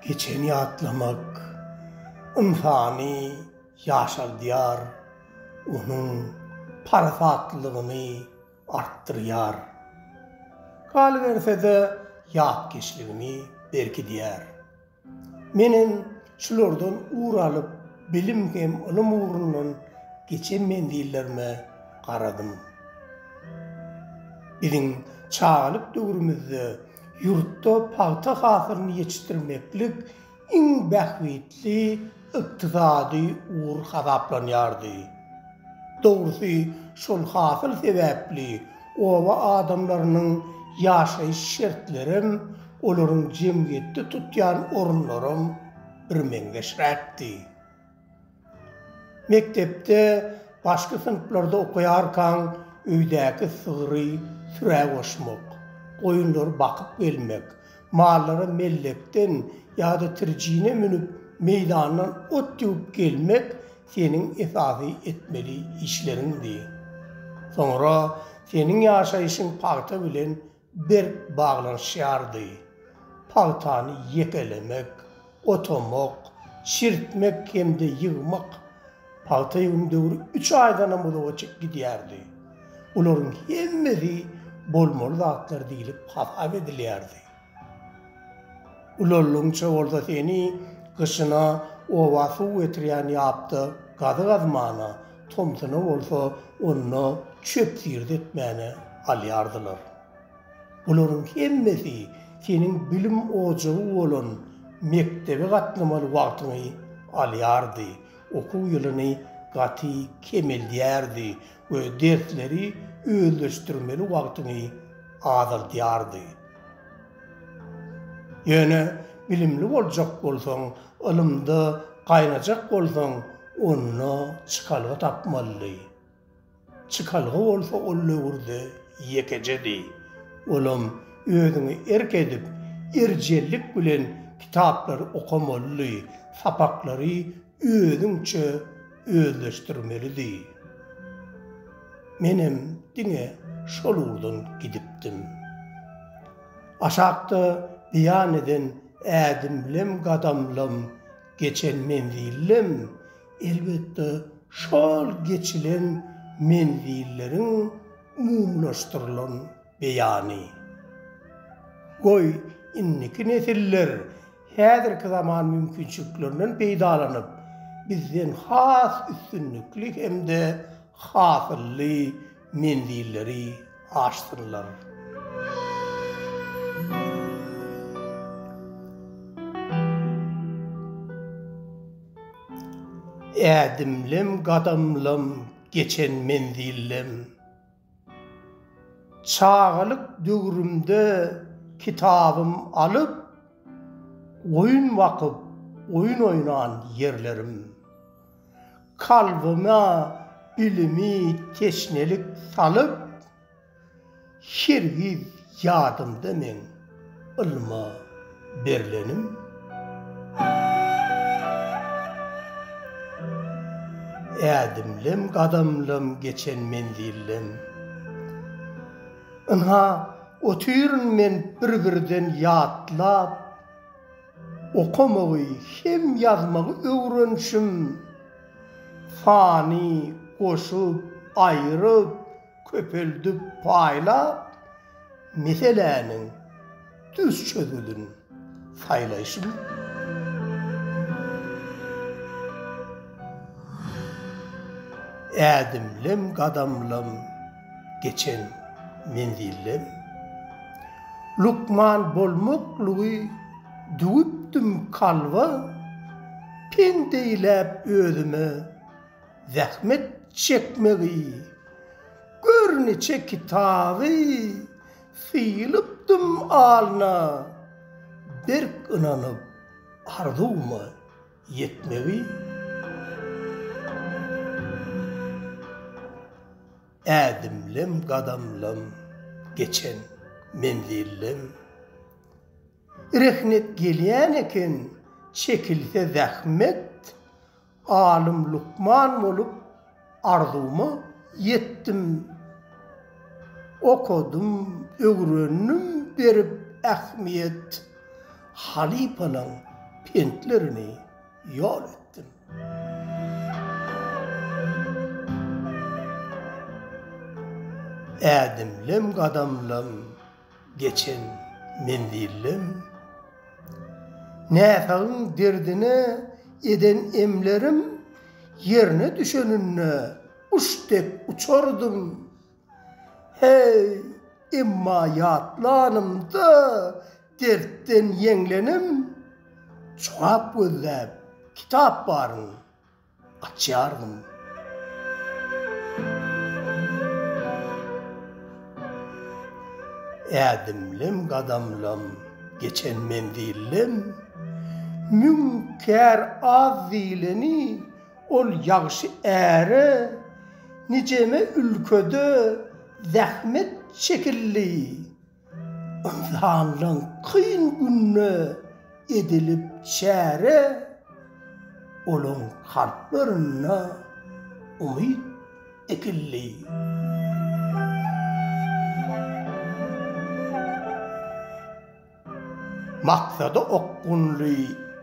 Geçeni ýatlamak ynsany ýaşaldýar, onuň parasatlylygyny artdyrýar. Galyberse-de, ýatkeşligini berkidýär. Menem şulardan ugur alyp, bilim hem ylym ugrundan geçen menzillerime garadym. Biziň çagalyk döwrümizde ýurtda pagta hasylyny ýetişdirmeklik iň bähbitli ykdysady ugur hasaplanýardy. Dogrusy, şol hasyl sebäpli oba adamlarynyň ýaşaýyş şertlerem, olaryň jemgyýetde tutýan orunlaram birmeňzeşräkdi. Mekdepde başky synplarda okaýarkaň öýdäki sygry sürä goşmak, goýunlary bakyp gelmek, Mallara mellekden ýa-da trijine münüp, meýdandan ot döwüp gelmek seniň esasy etmeli işleriňdi. Soňra seniň ýaşaýşyň pagta bilen berk baglanyşýardy. Pagtany ýekelemek, Oturmak, çirtmek hem-de ýygmak pagta ýygym döwri üç aýdanam uzaga çykyp gidýärdi. Bularyň hemmesi bolmaly zatlar diýlip hasap edilýärdi. Ulallygyňça bolsa seni gyşyna oba suw getirýän ýapda gazy gazmana, tomsuna bolsa onda çöp-zirt etmäne alýardylar. Bularyň hemmesi seniň bilim ojagy bolan mekdebe gatnamaly wagtyňy alýardy, okuw ýylyny gaty kemeldýärdi we dersleri özleşdirmeli wagtyňy azaldýardy. Ýöne bilimli boljak bolsaň, ylymda gaýnajak bolsaň, onda çykalga tapmalydy. Çykalga bolsa ol döwürde ýekejedi. Olam özüňi erk edip, erjellik bilen kitaplary okamalydy, sapaklary özüňçe özleşdirmelidi. Menem diňe şol ugurdan gidipdim. Aşakda beýan eden ädimlem-gadamlam geçen menzillem Elbetde, şol geçilen menzilleriň umumylaşdyrylan beýany. Goý, indiki nesiller häzirki zaman mümkinçiliklerinden peýdalanyp, bizden has üstünlikli hem-de hasylly menzilleri aşsynlar. Ädimlem gadamlam geçen menzillem Çagalyk döwrümde kitabym alyp Oýun bakyp oýun oýnan ýerlerim. Kalbyma bilimi teşnelik salyp, Hergiz ýadymda meň ylma berlenim. Ädimlem gadamlam geçen menzillem. Ynha, otyryn men bir-birden ýatlap. Okamagy hem ýazmagy öwrenişim, sany goşup, aýryp, köpeldip, paýlap, meseläniň düz çözgüdini saýlaýşym. Ädimlem-gadamlam. Geçen menzilden lukman bolmaklygy düwüpdim kalba, pendeýläp özüme zähmet çekmegi, gör niçe kitaby sylypdym alna, berk ynanyp arzuwyma. ýetmegi, ädimlem gadamlam geçen menzillem rehnet gelýän eken çekilse zähmet alym lukman bolup Arzuwyma ýetdim. Okadym, öwrendim berip ähmiýet, Halypanyň pentlerini ýol etdim. Ädimlem-gadamlam. Geçen menzillem, näsagyň derdine eden emlerim ýerine düşeninde guş dek uçardym. Heý, emma ýatlanymda dertden ýeňlenim, jogap gözläp kitap baryn. Açýardym. Ädimlem gadamlam geçen menzillem Müň kär az diýleni ol ýagşy äre Nijeme ülkede zähmet çekildi Ynsanlaň kyn günde edilip çäre, Olaň kalplarynda umyt ekildi. Maksada okgunly,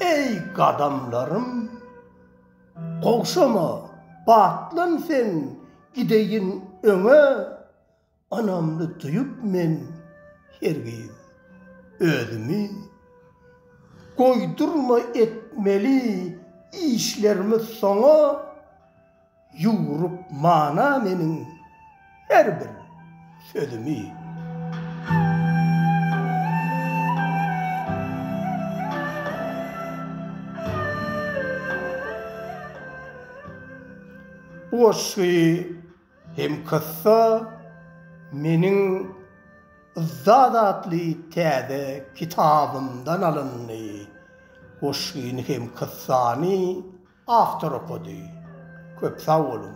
eý, gadamlarym, Gowşama, batlan sen, gideýin öňe! Anamly duýup men hergiz özümi, Goýdurma etmeli işlerimi soňa, Ýugrup mana meniň her bir sözümi. Bu goşgy Hem kyssa meniň Yzdat atly täze kitabymdan alyndy. Goşgyny hem kyssany awtor okady. Köp sag boluň.